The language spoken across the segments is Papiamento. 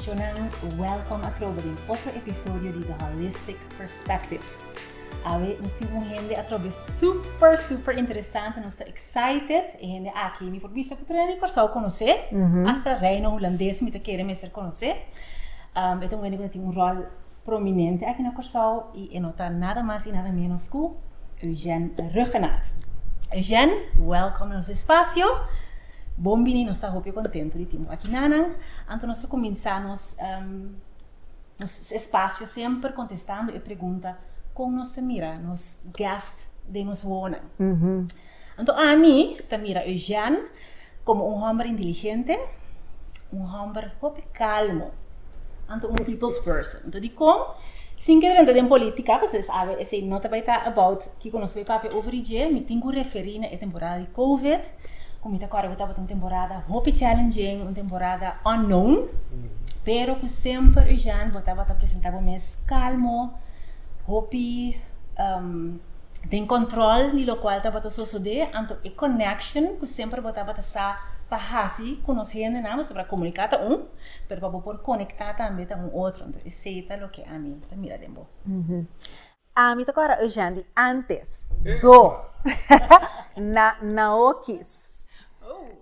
Shonnan, welcome a trobe den otro episodio di The Holistic Perspective. Awe nos tin un hende atrobe super super interesante, nos ta excited. E hende aki mi por bisa cu Trinidad y Curaçao conoce, hasta Reino Hulandes mi ta kere mester conoce. Um e ta un hende cu ta tin un rol. prominente aki na Kòrsou i e no ta nada mas i nada ménos ku Eugène Rhuggenaath. Eugène, wèlkom na nos espasio. Bon bini, nos ta hopi kontentu di tin bo aki nanan. Anto nos ta kuminsá nos nos espasio semper kontestando e pregunta, kon nos ta mira nos gèst den nos wowonan? Anto ami ta mira Eugène komo un hòmber inteligente, un hòmber hopi kalmo, anto un people's person. Anto dikon? Sin kier entra den polítika, pasobra mi sa awe esei no ta bai ta about kiko nos ta bai papia over i dje, mi tin ku referí na e temporada di covid, ku mi ta kòrda ku tabata un temporada hopi challenging, un temporada unknown, pero ku semper Eugène bo tabata presentá bo mes kalmo, hopi. den control di locual tabata sosode, anto e connection cu semper bo tabata sa pa haci cu nos hendenan, bo sabra comunica ta un, pero pa bo por conecta tambe ta un otro, entonces esey ta loke ami ta mira den bo. Ami ta kora Eugène di antes, do, na na okis.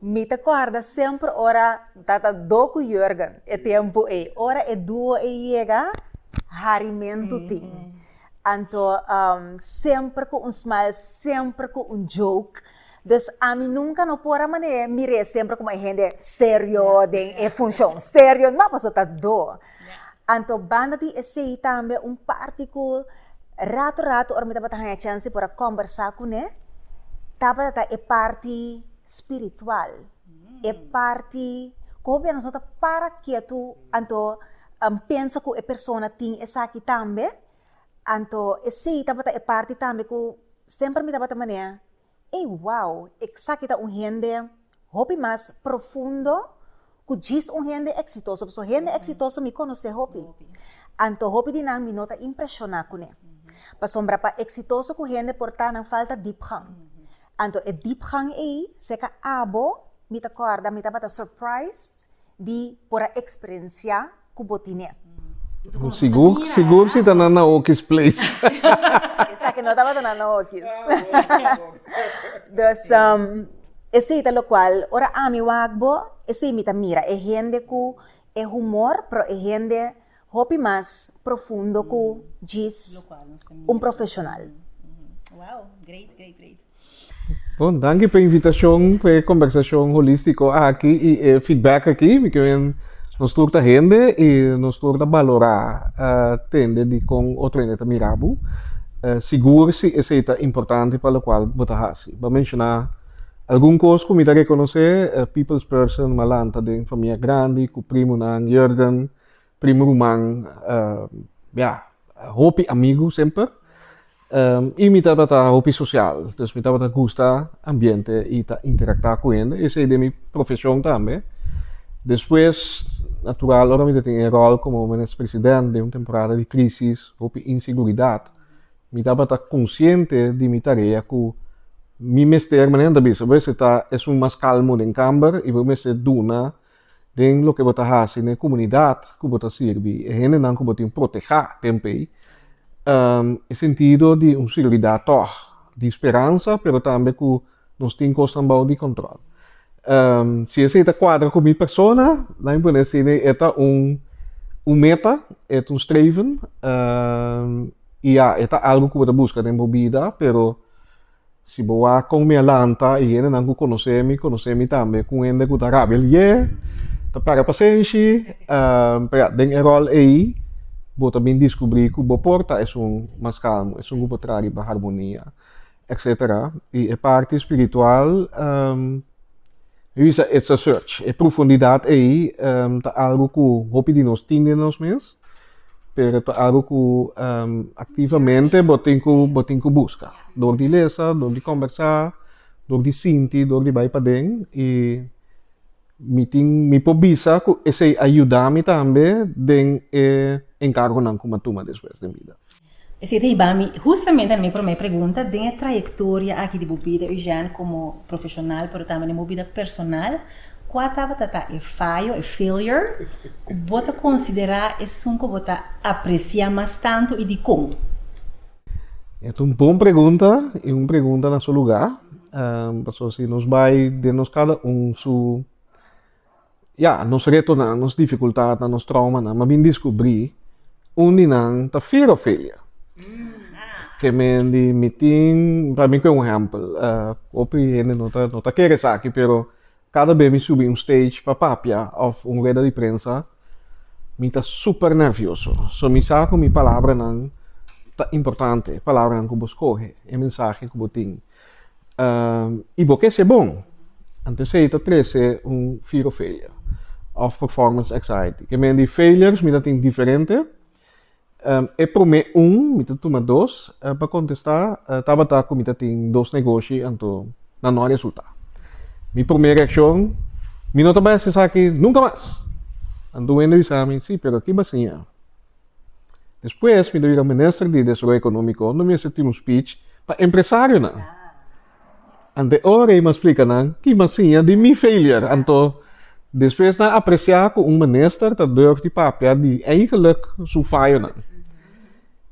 Mi ta korda semper ora tata do ku Jurgen e tempu ei. Ora e duo ei yega, harimentu tin. Anto semper ku un smile, semper ku un joke. Dus ami nunka no por a manera e mira e semper komo e hende serio den e funshon, serio no paso ta do. Anto banda di esei tambe un parti ku rato rato ora mi tabata haña chanse por a kòmbersá kuné tabata ta e parti spiritual. e parti ku hopi anos no ta para ketu anto a pensa ku e persona tin esaki tambe, anto esei tabata e parti tambe ku semper mi tabata manera ey wou esaki ta un hende hopi mas profundo ku djis un hende eksitoso pasobra hende eksitoso mi konosé hopi, anto hopi di nan mi no ta impreshoná kuné pasobra pa eksitoso ku hende por ta nan falta dipgang. Anto e diepgang ei seka abo, mi ta kòrda mi tabata surprised di por a eksperensiá ku bo tin'é. Sigur, sigur si ta na naokis place. Esaki no tabata na naokis. Dus, esei ta lokual, ora ami wak bo, esei mi ta mira, e hende ku e humor, pero e hende Hopi mas profundo cu djis un profesional. Wow, great, great, great. Bon, danki pa invitacion, pa e conversacion holistico aki y e feedback aki. Mi kiben nos tur ta hende y nos tur ta balora uh, tende di con otro hende ta mira bo. Uh, sigur si esey ta importante pa locual bo ta haci. Bo a menciona algun cos cu mi ta reconoce, uh, people's person, Malanta den famia grandi, cu primonan, Jurgen. Primo ruman, ya, hopi amigu semper. I mi tabata hopi sosial. Dus mi tabata gusta ambiente i ta interaktá ku hende. Esei den mi profeshon tambe. Despues, natural, ora mi ta tin e ròl komo Minister President den un temporada di krísis, hopi inseguridat, mi tabata konsiente di mi tarea ku mi mester, manera nan ta bisa, bo mester ta esun mas kalmu den kamber i bo mester duna Den loke bo ta hasi na e komunidat ku bo ta sirbi, e hendenan ku bo tin protehá tempu ei, e sentido di un sirbidat tòg, di speransa pero tambe ku nos tin kosnan bou di kòntròl. Si esei ta kuadra ku mi persona, nan mi por a si e ta un un meta, e ta un streven i ya e ta algu ku bo ta buska den bo bida pero. Si bo wak kon mi a lanta, i hendenan ku konosé mi, konosé mi tambe ku un hende ku ta rabia lié, ta pèrdè pasenshi. Pero ya, den e ròl ei bo ta bin diskubrí ku bo por ta esun mas kalmu, esun ku por traha riba harmonia, etsetera. I e parti spiritual. Mi bisa it's a search. E profundidat ei ta algo ku hopi di nos tin den nos mes, pero ta algo ku aktivamente bo tin ku bo tin ku buska. Dor di lesa, dor di kombersá, dor di sinti, dor di bai paden i mi tin mi por bisa ku esei a yuda mi tambe den e enkargonan ku mi a tuma despues den bida. Esei ta hiba mi hustamente na mi promé pregunta den e trayektoria aki di bo bida, Eugène, komo profeshonal pero tambe den bo bida personal, kua tabata ta e fayo, e failure, ku bo ta konsiderá esun ku bo ta apresiá mas tantu i dikon? E ta un bon pregunta i un pregunta na su lugá, pasobra si nos bai den nos kada un su. Ya, nos retonan, nos difikultatnan, nos traumanan, m'a bin diskubrí un di nan ta fir Ofelia. Ke men di mi tin, pa mi ku e un hèmpel. Hopi hende no ta, no ta kere esaki, pero kada bes mi subi un stage pa papia òf un rueda di prensa, mi ta super nervioso. So mi sa ku mi palabranan ta importante, palabranan ku bo skohe, e mensahe ku bo tin. Uh, y bo ke se bon. Antes esei ta trece un fear of failure of performance anxiety. Ke men di failures mi ta tin diferente. Um, e prome un, mi ta tuma dos, uh, pa contesta, uh, tabata ku mi ta tin dos negoshi, anto na no resulta. Mi prome reaccion, mi no ta bai asesaki nunca mas. Anto wende bisa mi, si, pero ki basiña. Despues mi ta bira minister di desaroyo economico no mester tin un speech pa empresarionan. Ante ora y m'a splica nan ki m'a siña di mi failure anto despues nan aprecia cu un minister ta durf di papia di eigenlijk su fayonan.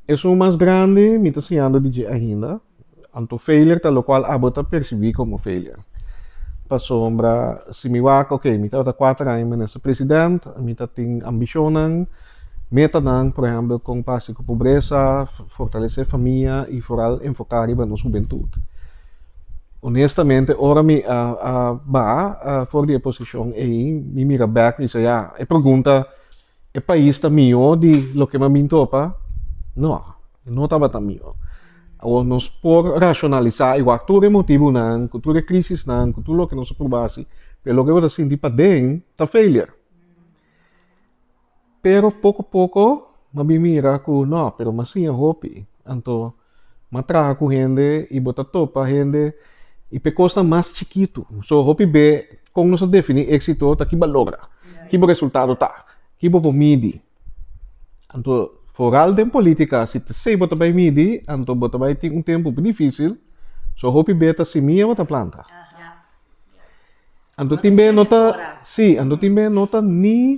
Esun mas grandi mi ta siñando di dje ainda. Anto failure ta lokual abo ta persibí komo failure. Pasobra si mi wak, oke, mi tabata kuater aña minister president, mi ta tin ambishonnan, metanan, por ehèmpel kon pa hasi ku pobresa, fortalesé famia i foral enfoká riba nos hubentut. Onestamente, ora mi a a baha for di e posishon ei, mi mira bèk mi se, ya, e pregunta E pais ta mihó di loke mi a bin tropa? No, no tabata mihó. Awor nos por rashonalisá i wak tur e motibunan ku tur e krisisnan, ku tur loke nos a pruba hasi, pero loke bo ta sinti paden ta failure. Pero poko poko mi a bin mira ku no, pero mi a siña hopi, anto. M'a traha ku hende i bo ta topa hende i p'e kosnan mas chikitu. So, hopi be kon nos ta definí éksito ta ki bo a logra, ki bo resultado ta, ki bo por midi. Anto foral den polítika, si t'esei bo ta bai midi, anto bo ta bai tin un tempu hopi difísil. So hopi be ta simia bo ta planta. Anto tin be no ta, sí, anto tin be no ta ni.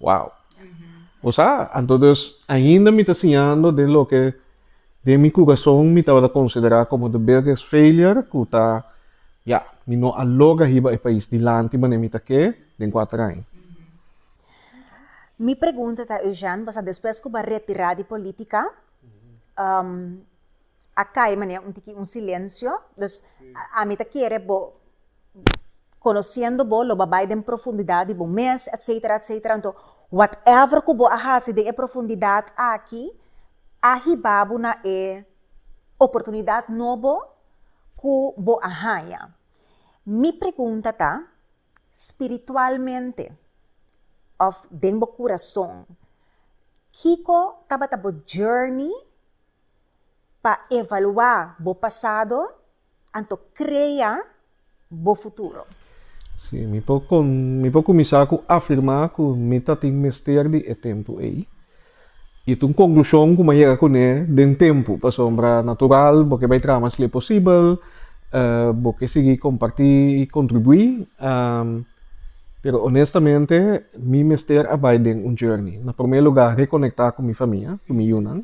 Wow. O sa, anto dus, ainda mi ta siñando den loke den mi kurason mi tabata konsiderá komo de biggest failure ku ta, ya, mi no a logra hiba e pais dilanti manera mi ta ke den kuater aña. Mi pregunta ta, Eugène, pasobra despues ku bo a retirá di polítika, a kai manera un tiki un silensio. Dus, ami ta kere bo conociendo bo lo bo a bay den profundidad di bo mes etcetera etcetera enton whatever cu bo a haci den e profundidad aki a hiba bo na e oportunidad nobo cu bo a haya mi pregunta ta spiritualmente of den bo curason kico tabata bo journey pa evalua bo pasado Anto crea bo futuro. Sí, mi por con, mi por cuminsa cu afirma cu mi ta tin mester di e tempo ey. Y ta un conclusion cu mi a yega cune den tempo, pasobra natural bo ke bay traha mas le posibel, bo ke sigui comparti y contribui, pero honestamente mi mester a bay den un journey. Na prome lugar reconecta cu mi famia, cu mi yunan.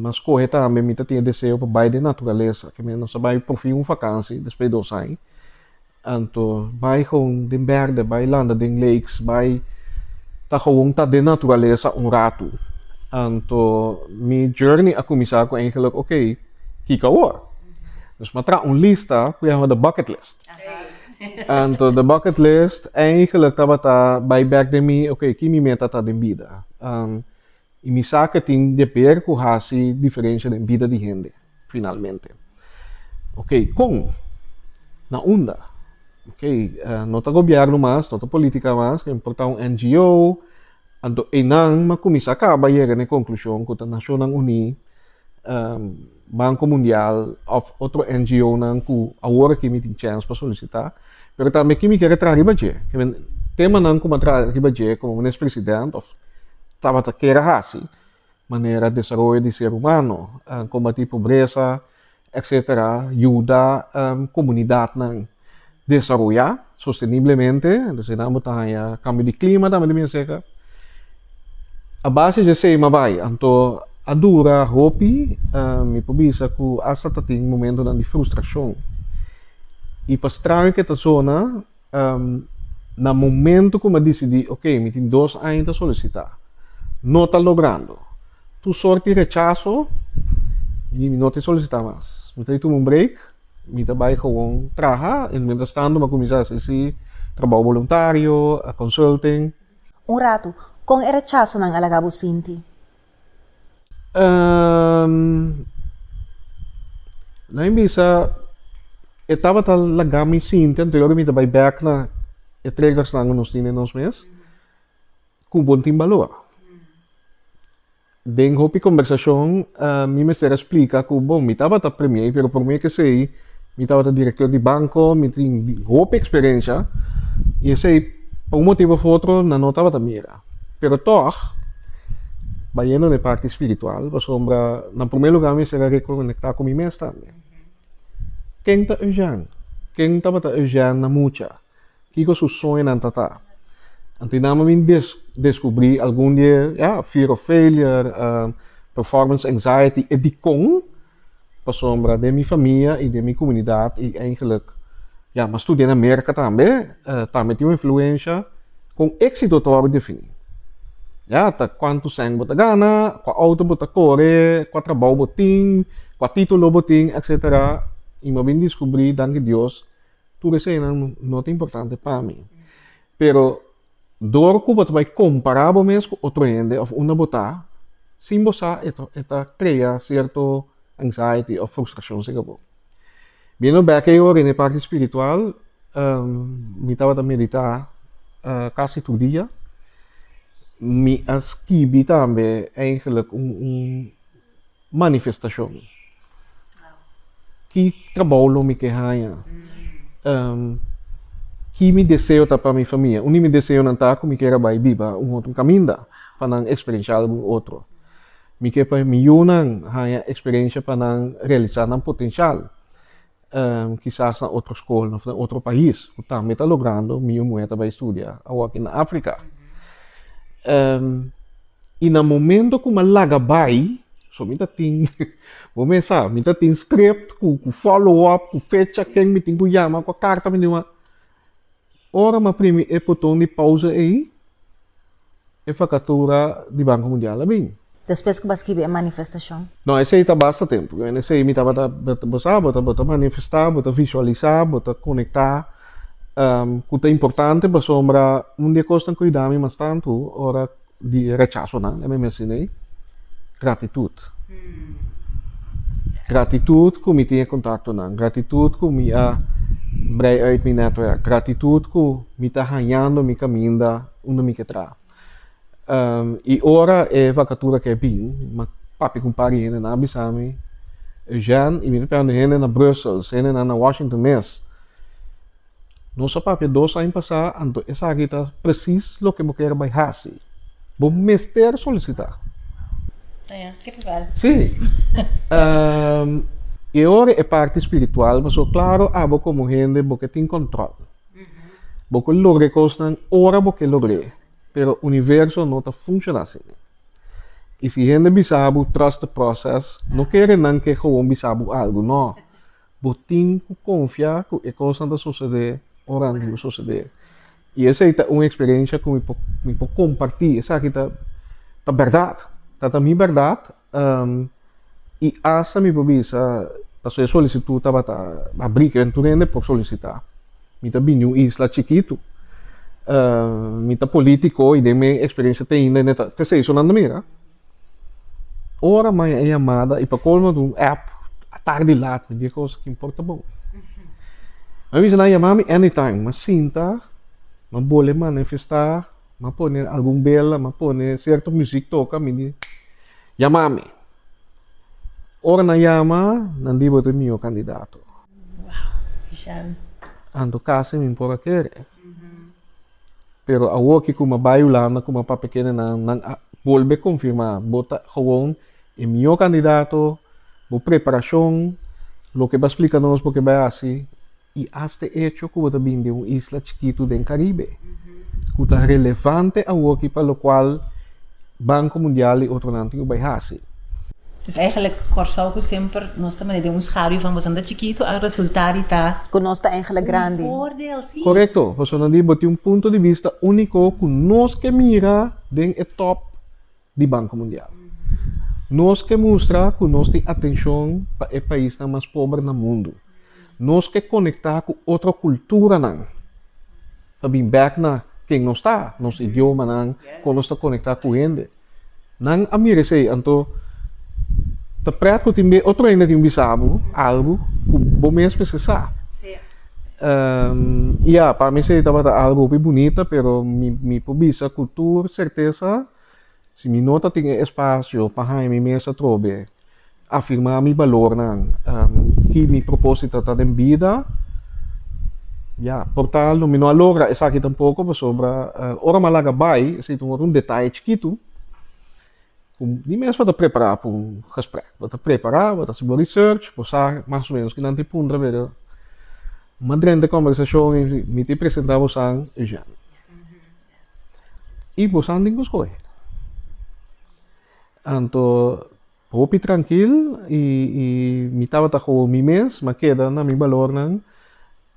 Mas skohe tambe mi ta tene deseo pa bai den naturalesa. Ke manera nos a bai porfin un vakansi despues di dos aña. Anto bai gewoon den bèrdè, bai landa den lakes, bai ta gewoon ta den naturalesa un ratu. Anto mi journey a kuminsá ku eigenlijk okey, kiko awor? Dus mi a traha un lista ku a haña de bucket list. Anto de bucket list, eigenlijk tabata bai bèk den mi, okey, ki mi meta ta den bida? I mi sa ke tin deber ku hasi diferensha den bida di hende, finalmente. Ok, kon? Na unda? Ok, no ta gobièrnu mas, no ta polítika mas, ta importá un NGO, anto einan mi a kuminsá kaba yega na e konklushon ku ta Nashonnan Uní. Banco Mundial of otro NGO nan cu awor aki mi tin chens pa solicita, pero tambe aki mi kere traha riba dje, kende tema nan cu mi a traha riba dje como Minister President of tabata kere haci, manera desaroyo di ser humano, combati pobreza, etc. Yuda comunidad nan. desaroyá sosteniblemente, entonces nan bo ta haña kambio di klima tambe ta bini seka. A base dje esei mi a bai, anto a dura hopi, mi por bisa ku asta ta tin momentunan di frustrashon. I pa straño ku e ta zona, na momentu ku mi a disidí, okey, mi tin dos aña ta solisitá, no ta logrando tur sort di rechaso, mi no ta solisitá mas. Mi ta bai tuma un break. Mi ta bai gewoon traha en mientras tanto mi a cuminsa haci si trabao voluntario, a consulting. Un ratu, con e rechasonan a laga bo sinti? Ehm, na mi bisa e tabata laga mi sinti anterior di mi ta bai back na e triggersnan cu nos tin den nos mes, cu bo tin baloa. Den hopi kombersashon mi mester a splika ku bon, mi tabata premie, pero por mi esei mi tabata direktor di banko, mi tin hopi eksperensha i esei pa un motibu of otro nan no tabata mira. Pero tòg, bayendo na e parti spiritual, pasobra na promé lugá mi mester a rekonektá ku mi mes tambe. Ken ta Eugène? Ken tabata Eugène na mucha? Kiko su soñonan tatá? Anto nan mi bin descubrí algun di e, ya, fear of failure, performance anxiety, e dikon, pasobra den mi famia i den mi comunidad i eigenlijk, ya, m'a studiá na Merca tambe, tambe tin un influencia, con éxito ta wòrdu definí. Ya, ta cuantu cent bo ta gana, cua auto bo ta core, cua trabou bo tin, cua título bo tin, etcetera, i m'a bin descubrí, danki Dios. Tur esei nan no ta importante pa mi. Pero dor ku bo ta bai kompará bo mes ku otro hende òf unda bo ta sin bo sa e ta e ta krea sierto anxiety òf frustrashon segun bo. Biendo bèk e ora den e parti spiritual mi tabata meditá kasi tur dia. Mi a skibi tambe, eigenlik, un un. manifestashon. Ki trabou lo mi ke haña? Ki mi deseo ta pa mi famia? Un di mi deseonan ta ku mi ker a bai biba un otro kaminda pa nan eksperenshá algun otro. Mi ke pa mi yunan haña eksperensha pa nan realisá nan potenshal. Kisas na otro skolnan òf na otro pais ku tambe ta logrando miun muhé ta bai studia awor aki na Afrika. I na momento ku mi a laga bai, so mi ta tin, bo mes sa, mi ta tin script ku follow up, ku fecha, ken mi tin ku yama, kua karta mi tin ku. Ora m'a primi e poton di pausa ei, e fakatura di Banko Mundial a bin. Despues ku bo a skibi e manifestashon? No, esei ta basta tempu. Ku esei mi tabata, bo sa, bo ta, bo ta manifestá, bo ta visualisá, bo ta konektá ku ta importante pasobra un di e kosnan kuidá mi mas tantu ora. Di e rechasonan lei mi mencion'é ei, gratitut. Gratitut ku mi tin e kontaktonan, gratitut ku mi a brei uit mi netwerk, gratitut ku mi ta hañando mi kaminda unda mi ke traha. i ora e vakatura ke bin, mi a papia ku un par di hende, nan a bisa mi, Eugène, i mi ta preganta hende na Brussels, hende nan na Washington mes, Nos a papia dos aña pasá, anto esaki ta presis loke bo ker bai hasi. Bo mester solisitá. Sí. I e ora e parti spiritual, pasobra klaru abo komo hende bo ke tin kòntròl. Bo ke logra e kosnan ora bo ke logr'é, pero universo no ta funshoná asina. I si hende bisa bo, trust the process, no kere nan ke gewoon bisa bo algu, nò. Bo tin ku konfiá ku e kosnan ta sosodé ora nan diba sosodé. I esei ta un eksperensha ku mi por mi por kompartí. Esaki ta ta bèrdat. Ta ta mi bèrdat i asta mi por bisa pasobra e solisitut tabata abrí ku tur hende por solisitá. Mi ta bini un isla chikitu. Mi ta polítiko i den mi eksperensha te inda ta te seisonandu mi, ra. Ora maña e yamada y pa colmo un app a tardi laat mi diga cosa ki importa bo. Mi a bisa nan yama mi anytime, mi a sinta, mi a bole manifesta, mi a pone algun bela, mi a pone cierto music toca mi di yama mi. Ora nan yama nan di bo tu e miho candidato. Anto casi mi por a kere. Pero awor ki kuma bai Hulanda kuma pa pekenenan, nan a bolbe konfirmá bo ta gewoon e mihó kandidato, bo preparashon, loke bo a splika nos bo ke bai hasi i asta e echo ku bo ta bini den un isla chikitu den Karibe ku ta relevante awor ki pa lokual. Banco Mundial y otronan tin cu bay haci. Pues eigenlijk Corsou cu semper nos ta mane den un schaduw van bosan ta chikito a resulta di ta. Cu nos ta eigenlijk grandi. Un voordeel, si. Correcto, Rosana Lee bo tin un punto di vista unico cu nos ke mira den e top di Banco Mundial. Nos ke mustra cu nos tin atencion pa e paisnan mas pober na mundo. Nos ke conecta cu otro culturanan. Ta bin bek na ken nos ta, nos idiomanan, kon nos ta konektá ku hende. Nan a mira esei, anto ta prèt ku tin be otro hende tin bisa bo algu ku bo mesme si sa. I ya, pa mi esei tabata algu hopi bunita, pero mi por bisa ku tur sertesa, Si mi no ta tin e espasio pa haña mi mes atrobe afirmá mi balornan i mi propósito ta den bida, ya, por tal mi no a logra esaki tampoko pasobra ora mi a laga bai esei ta wòrdu un detaye chikitu ku mi mes bo ta prepará pa un gesprek. Bo ta prepará, bo ta hasi bo research, bo sa mas o ménos kinan tin puntra pero madren di kòmbersashon mi tin presentá bosan Eugène. i bosan tin ku skohe. Anto hopi trankil i i mi tabata koho mi mes, mi a keda na mi balornan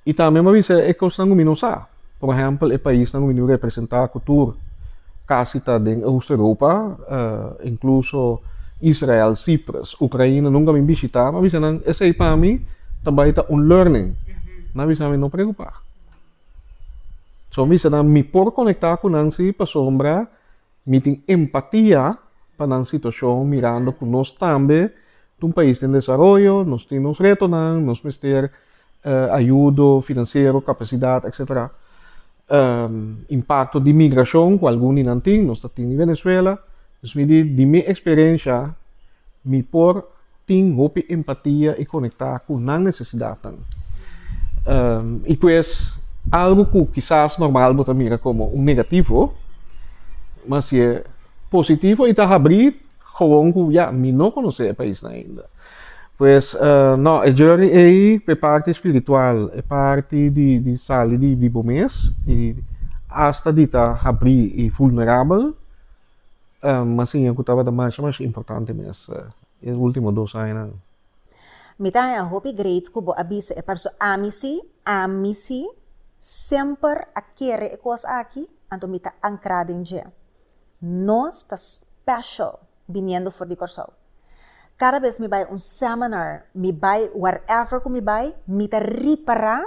i tambe mi a bisa e kosnan ku mi no sa. Por ehèmpel e paisnan ku mi niu representá ku tur kasi ta den Oost Europa inkluso Israel, Sipres, Ukraina nunka mi bishitá, mi a bisa nan esei pa mi ta bai ta un learning, nan a bisa mi no preokupá. So mi bisa nan mi por konektá ku nan si pasobra mi tin empatia pa nan situashon mirando ku nos tambe ta un pais den desaroyo, nos tin nos retonan, nos mester ayudo finansiero, kapasidat etsetera. Impakto di migrashon ku algun di nan tin, nos ta tin di Venezuela, dus mi di di mi eksperensha mi por tin hopi empatia i konektá ku nan nesesidatnan. I ku es algu ku kisas normal bo ta mira komo un negativo, mas si e positivo i ta habrí gewoon ku ya, mi no konosé e paisnan ainda. Pues, nò, e journey ei pa e parti spiritual, e parti di di sali di bo mes i asta di ta habrí i vulnerabel. Masiña ku tabata masha masha importante mes e ultimo dos añanan. Mi ta hopi great ku bo a bisa e parso. Ami si, ami si semper a kere e kos aki, anto mi ta ankra den dje. Nos ta special biniendo for di Kòrsou. Kada bes mi bai un seminar, mi bai whatever ku mi bai, mi ta ripará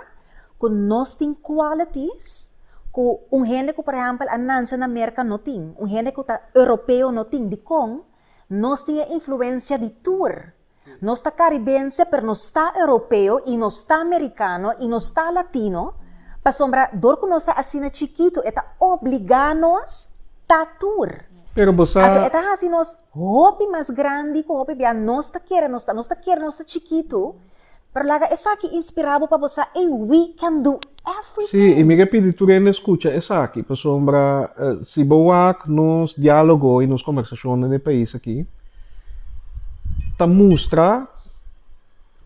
ku nos tin qualities ku un hende ku por ehèmpel a nanse na Merka no tin, un hende ku ta Europeo no tin. Dikon? Nos tin e influensia di tur. Nos ta karibense pero nos ta Europeo i nos ta Merikano i nos ta Latino, pasobra dor ku nos ta asina chikitu e ta obligá nos ta tur. Pero bo sa. Ato e ta hasi nos. Hopi mas grandi ku hopi bia nos ta kere nos ta, nos ta kere nos ta chikitu, pero laga esaki inspirá bo pa bo sa ei we can do everything. Sí, i mi ke pidi tur hende skucha esaki, pasobra si bo wak nos diálogo i nos kombersashon den e pais aki ta mustra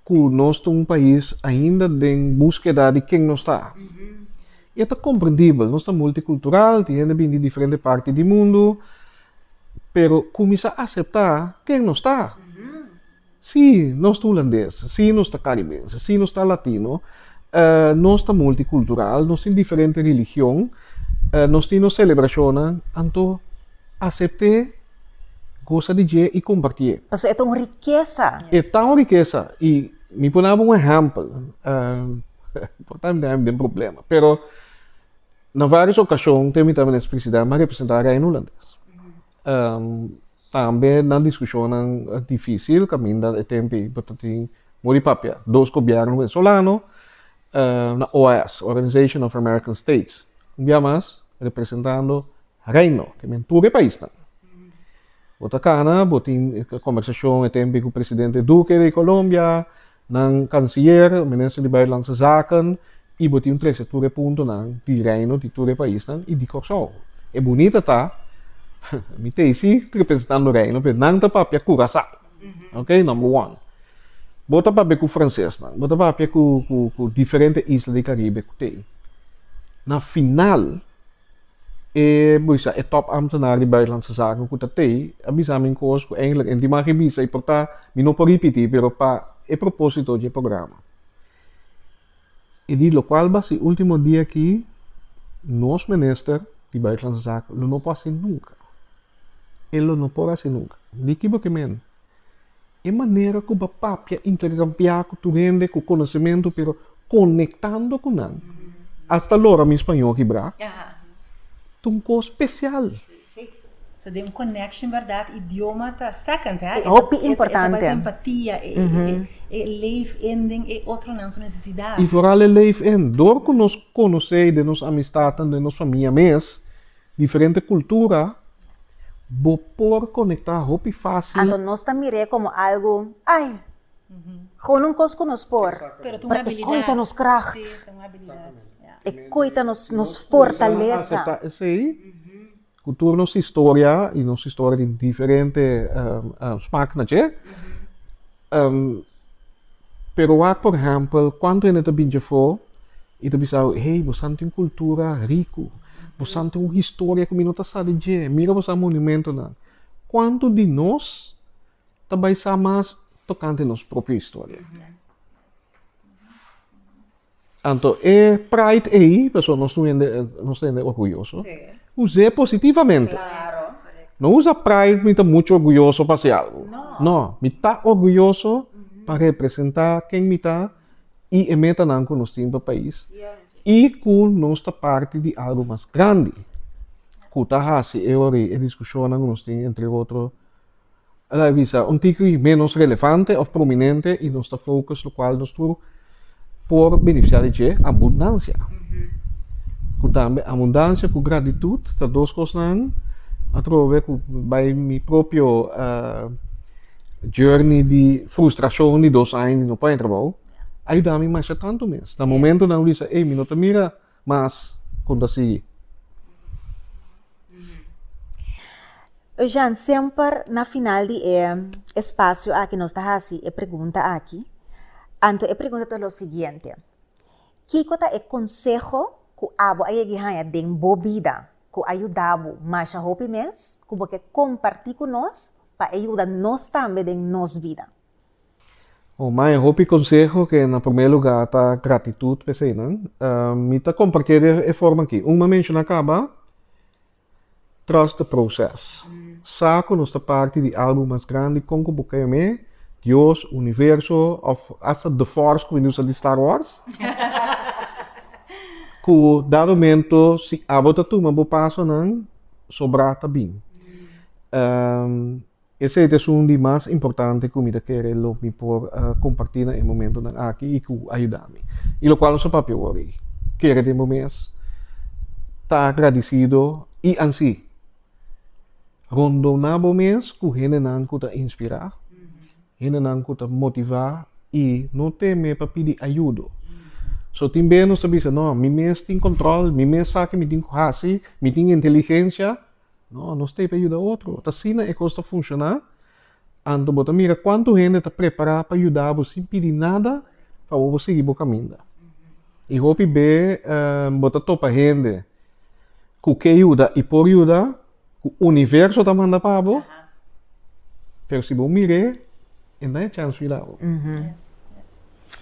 ku nos ta un pais ainda den búskeda di ken nos ta. I e ta komprendibel, nos ta multikultural, tin hende bini di diferente parti di mundu, Pero kuminsá aseptá ken nos ta. Si nos ta hulandes, si nos ta karibes, si nos ta latino, nos ta multikultural, nos tin diferente religion, nos tin nos selebrashonnan, anto asept'é, gosa di dje i kompartié. Pasobra e ta un rikesa. E ta un rikesa. I mi por daba un ehèmpel, por tambe den problema, pero. Na varios ocasion te mita menes felicidad na representa Reino Hulandes. tambe na discusionnan dificil caminda e tempi bo ta tin mor di papia dos gobierno venezolano na OAS, Organization of American States, un bia mas representando Reino, ke men tur e paisnan. Bo ta kana, bo tin kombersashon e tempe ku presidente Duque di Colombia, nan kanselier, minister di Buitenlandse Zaken, i bo tin trese tur e puntonan di Reino di tur e paisnan i di Kòrsou. E bunita ta, mi ta isi representando Reino, pero nan ta papia Curaçao, ok, number one. Bo ta papia ku fransesnan, bo ta papia ku diferente isla di Karibe ku t'ei. Na final. E bisa e top ambtenaar di Buitenlandse Zaken ku ta tei, a bisa mi kos ku eindelijk en di maki bisa i por ta, mi no por ripití, pero pa e propósito dje programa. I di lokual bas e último dia ki nos Minister di Buitenlandse Zaken lo no por hasi nunka. E lo no por hasi nunka. Di kiba ke mende? E manera ku ba papia interkampiá ku tur hende ku konosementu pero konektando ku nan asta lora mi spañó kibrá ta un kos spesial. Sí. So den un connection berdad idioma ta second hè. E hopi importante. E ta bai pa empatia e leef in den e otronan su necesidad. I foral e leef in dor ku nos konosei den nos amistadnan den nos famia mes Diferente kultura, bo por konektá hopi fásil. Anto nos ta mir'é komo algu, ai, gewoon un kos ku nos por. Pero e koi ta nos kracht, e koi ta nos nos fortalesa. Nos por aseptá esei ku tur nos historia i nos historia tin diferente smak na dje. Pero wak por ehèmpel, kuantu hende ta binchi afó i ta bisa bo, Hey, bosan tin un kultura riku. Bosan tin un historia ku mi no ta sa di dje. Mira bosan monumentonan. Kuantu di nos ta bai sa mas tokante nos propio historia? Anto e pride ei, paso nos no hende, nos ta hende orguyoso, Sí. usé positivamente. Claro. No usa pride mi ta mucho orguyoso pa se algo. No. No, mi ta orguyoso pa representa ken mi ta y e metanan cu nos tin pa pais Yes. y cu nos ta parti di algo mas grandi cu ta haci e ori e discusionnan cu nos tin entre otro El a bisa un tiki ménos relevante òf prominente i nos ta fokus lokual nos tur por benefisiá di dje abundansia. Ku tambe abundansia ku gratitut ta dos kosnan atrobe ku bai mi propio uh, journey di frustrashon di dos aña mi no pueda trabou, a yuda mi masha tantu mes. Na momentonan mi bisa, ey, mi no ta mira Mas ku ta sigui. Eugen, semper na final di e espacio aki nos ta hasi e pregunta aki. Anto e pregunta ta lo siguiente, kiko ta e conseho ku abo a yegi haña den bo bida ku a yuda bo masha hopi mes ku bo ke comparti ku nos pa e yuda nos tambe den nos bida? Oh, mae, hopi conseho que na primer lugar ta gratitud pe seinan. Uh, mi ta compartir de e forma aquí. Un ma menciona caba, trust the process. Sa cu nos ta parte di algo mas grande, con cu boca me, Dios, universo, of hasta The Force, cu indusa di Star Wars. cu da momento, si abo ta tuma bo paso nan, sobra ta bin. Um, Esei ta esun di mas importante ku mi ta kere lo mi por kompartí na e momentunan aki i ku a yuda mi. I lokual nos a papia wòrdu ei, kere tempu mes ta agradisido i ansi rondona bo mes ku hendenan ku ta inspirá, hendenan ku ta motivá i no teme pa pidi ayudo. So tin bes nos ta bisa, No, mi mes tin kòntròl, mi mes sa ke mi tin ku hasi, mi tin inteligensia, No, nos ta hiba yuda otro. Ta asina e kos ta funshoná. Anto bo ta mira kuantu hende ta prepará pa yuda bo sin pidi nada pa bo bo sigui bo kaminda. I hopi be bo ta topa hende ku ke yuda i por yuda, ku universo ta manda pa bo, pero si bo mir'é, e nan e chèns yuda bo.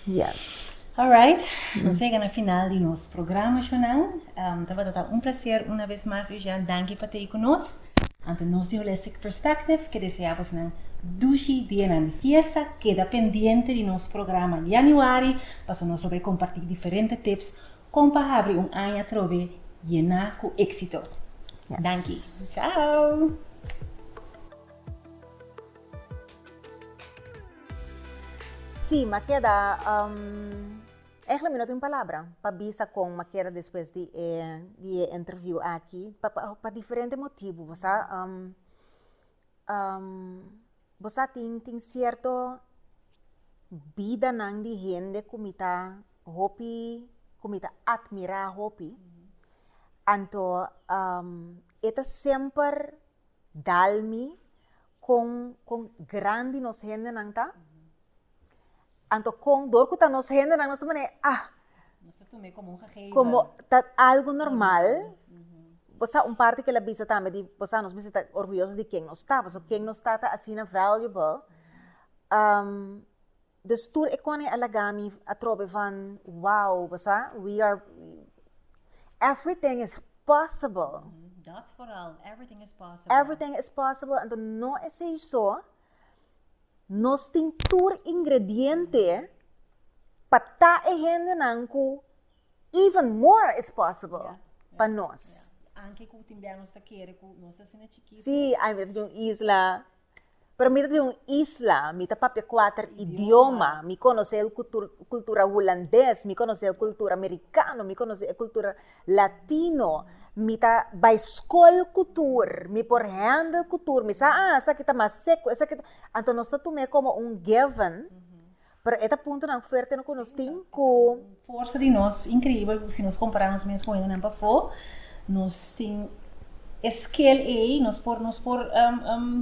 Yes. Alright, nos a yega na final di nos programa Shunan. Tabata ta un placer una vez mas Eugène, danki pa t'ei ku nos. Ante nos di Holistic Perspective ke desea bosnan dushi dianan di fiesta. Keda pendiente di nos programa Yanüari pasobra nos lo bai kompartí diferente tips kon pa habri un aña atrobe yená ku éksito. Danki. Chao! Sí, m'a keda, ègla mi no tin palabra pa bisa kon m'a keda despues di e di e interview aki, pa pa pa diferente motibu, bo sa, bo sa tin tin sierto bidanan di hende ku mi ta hopi ku mi ta atmirá hopi, anto e ta semper dal mi kon kon grandi nos hendenan ta, anto kon dor ku ta nos hendenan nos ta manera ah komo ta algu normal, bo sa un parti kel a bisa tambe di bo sa nos mester ta orguyoso di ken nos ta, pasobra ken nos ta ta asina valuable Dus tur e kòne a laga mi atrobe van wow bo sa we are everything is possible Dat foral everything is possible everything is possible anto no esei so nos tin tur ingrediente pa ta e hendenan ku even more is possible pa nos anke ku tin bia nos ta kere ku nos ta asina chikito si ai mi ta tin un isla. Pero mi ta di un isla, mi ta papia kuater idioma, mi konosé e kultura hulandes, mi konosé e kultura amerikano, mi konosé e kultura latino, mi ta bai skol ku tur, mi por hendel ku tur, mi sa a esaki ta mas seku, esaki ta, anto nos ta tum'é komo un given. Pero e ta puntonan fuerte no ku nos tin ku. Forsa di nos inkreibel si nos kompará nos mes ku hendenan pafó. Nos tin e skel ei, nos por nos por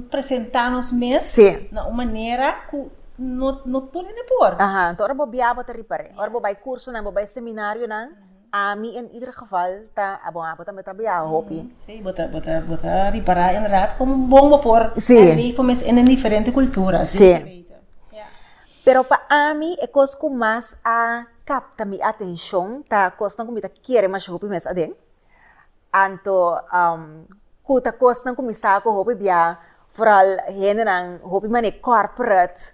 presentá nos mes na un manera ku no no tur hende por. Ahan. Ora bo biaha bo ta ripar'é. Ora bo bai kursonan, bo bai seminarionan. Ami en ieder geval ta bon abo tambe ta biaha hopi. Sí, bo ta bo ta bo ta ripara inderdaad como bon bo por Sí. leefo mes en den diferente cultura. Sí. Zeker weten. Ja. Pero pa ami e cos cu mas a capta mi atencion ta cosnan cu mi ta kere masha hopi mes aden. Anto cu ta cosnan cu mi sa cu hopi biaha, vooral hendenan hopi manera corporate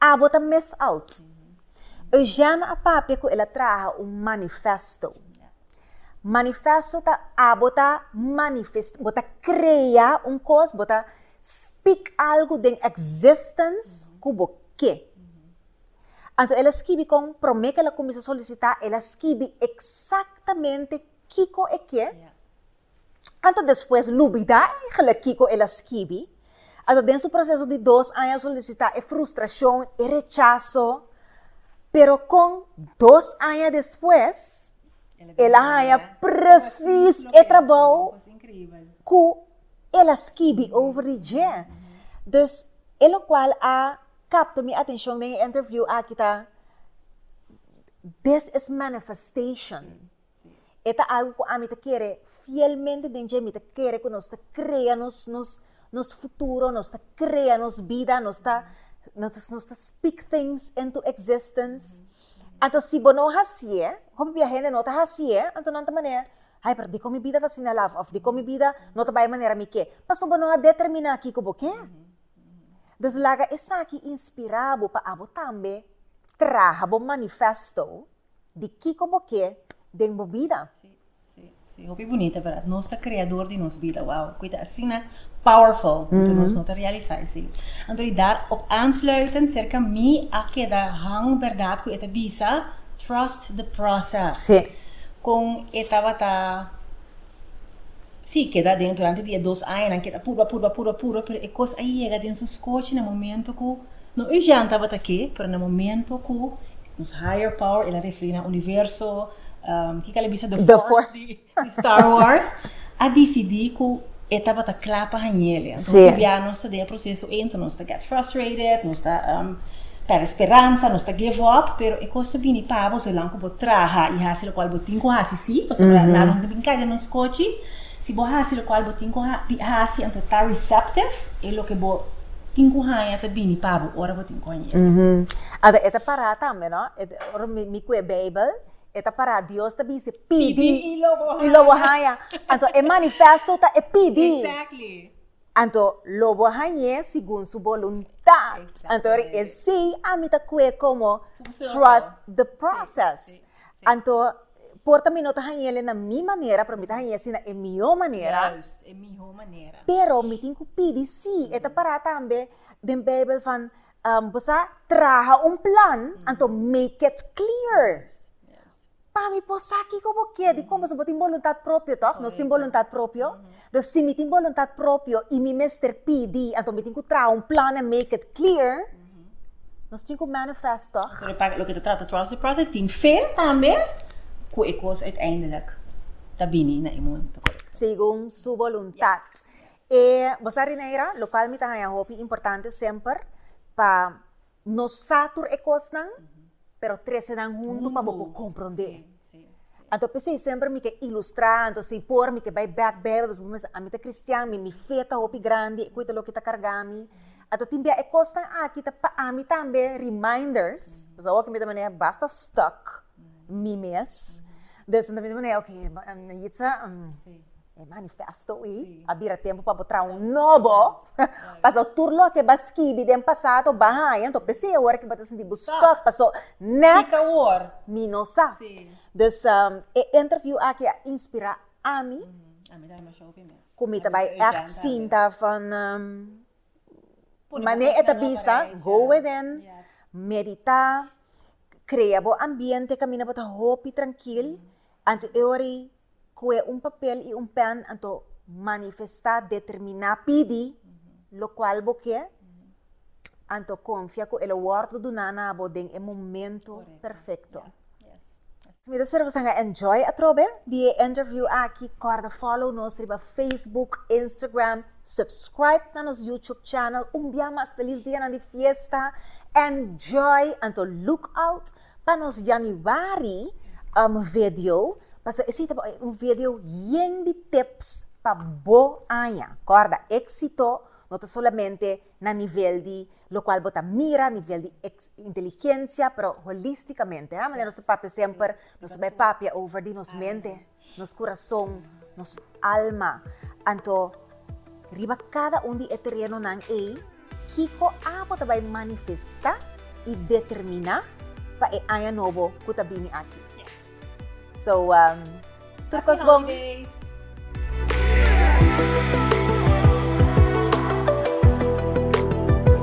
Abo ta mes alt. Eugène a papia ku el a traha un manifèsto. Manifèsto ta abo ta manifestá, bo ta krea un kos, bo ta spik algu den èkzistens ku bo ke. Anto el a skibi kon promé ku el a kuminsá solisitá, el a skibi eksaktamente kiko e ke, Anto despues lubidá égla kiko el a skibi, ata den su proseso di dos aña solisitá e frustrashon, e rechaso. Pero kon dos aña despues el a haña presis e trabou ku el a skibi over di dje. Dus e lokual a kapta mi atenshon den e interview aki ta, this is manifestation. E ta algu ku ami ta kere fielmente den dje. Mi ta kere ku nos ta krea nos nos nos futuro, nos ta krea nos bida, nos ta nos ta speak things into existence. Anto si bo no hasié, hopi bia hende no ta hasié, anto nan ta manera, hay pero dikon mi bida ta asina laf? Òf dikon mi bida no ta bai manera mi ke? Pasobra bo no a determiná ki ku bo ke. Dus laga esaki inspirá bo pa abo tambe traha bo manifesto. Di kiko bo ke den bo bida? Sí, sí, sí, hopi bunita verdad. Nos ta creador di nos bida, wauw, cu ta asina powerful, anto nos no ta realisa esey. Anto di dar op aansluiten cerca mi a keda hang verdad cu e ta bisa, trust the process. Sí. Con e tabata Sí, keda adentro antes di e dos aña, nan keda purba, purba, purba, purba, pero e kos a yega den sus kochi na momento ku, no Eugène tabata ke, pero na momento ku nos higher power, el a referí na Universo, kiko el a bisa? The Force di Star Wars, a disidí ku e tabata kla pa hañ'e. Entonces, biaha nos ta den e proseso ei, entonces nos. get frustrated, nos ta pèrdè speransa, nos ta give up, pero e kos ta bini pabo zolang ku bo traha i hasi lokual bo tin ku hasi si, pasobra nan no ta bin kai den nos kochi, si bo hasi lokual bo tin ku hasi anto ta receptive, e loke bo tin ku haña ta bini pabo ora bo tin ku hañ'e. Anto e ta pará tambe no, ora mi ku e beibel e ta pará Dios ta bis'e pidi i lo bo haña, anto e manifesto ta e pidi. Anto lo bo hañ'é segun su boluntá. Anto ora e sí, ami ta kue komo trust the process. Anto por ta mi no ta hañ'é le na mi manera, pero mi ta hañ'é asina e mihó manera. Pero mi tin ku pidi sí, e ta pará tambe den Beibel van bo sa traha un plan, anto make it clear. Pa mi por sa kiko bo kier di komo su bo tin boluntat propio tok nos tin boluntat propio den si mi tin boluntat propio i mi mester pidi anto mi tin ku traha un plan en make it clear nos tin ku manifest tok loke ta trata trust di process tin fe tambe ku e kos uiteindelijk ta bini na e momento korekto segun su boluntat e bo sa Rineira lo kual mi ta haña hopi importante semper pa. No sa tur e kosnan, pero trese nan huntu pa bo por komprondé. Anto p'esei semper mi ke ilustrá, anto si por mi ke bai bèk Beibel, pasobra mi mester ami ta kristian, mi mi fe ta hopi grandi, e koe ta loke ta kargá mi. Anto tin bia e kosnan aki ta pa ami tambe reminders, pasobra awor ke mi ta manera basta stuck mi mes, dus mi ta manera, oke, na yitsa E manifesto ei a bira tempu pa bo traha un nobo, paso tur loke bo a skibi den pasado bo a haña, enton p'esei awor bo ta sinti bo stuck, paso next mi no sa. Dus e interview aki a inspira ami ku mi ta bai ègt sinta van mane e ta bisa, go within, meditá, krea bo ambiente kaminda bo ta hopi trankil, anto e ora ei kue un papel i un pèn anto manifestá, determiná, pidi lokual bo ke, anto konfia ku e lo wòrdu duná na bo den e momentu perfekto. Mi ta spera ku boso a enjoy atrobe di e interview aki. Kòrda fòlow nos riba facebook, instagram, subscribe na nos youtube channel. Un bia mas felis dianan di fiesta. Enjoy anto look out Pa nos Januari um vedio, paso esi ta por un vedio yen di tips pa bo aña. Kòrda, éksito no ta solamente na nivel di lokual bo ta mira, nivel di eks, inteligensia, pero holístikamente. Manera nos ta papia semper, nos ta bai papia over di nos mente. Nos kurason, nos alma. Anto, riba kada un di e terenonan ei, kiko abo ta bai manifestá i determiná pa e aña nobo ku ta bini aki? So, tur kos bon!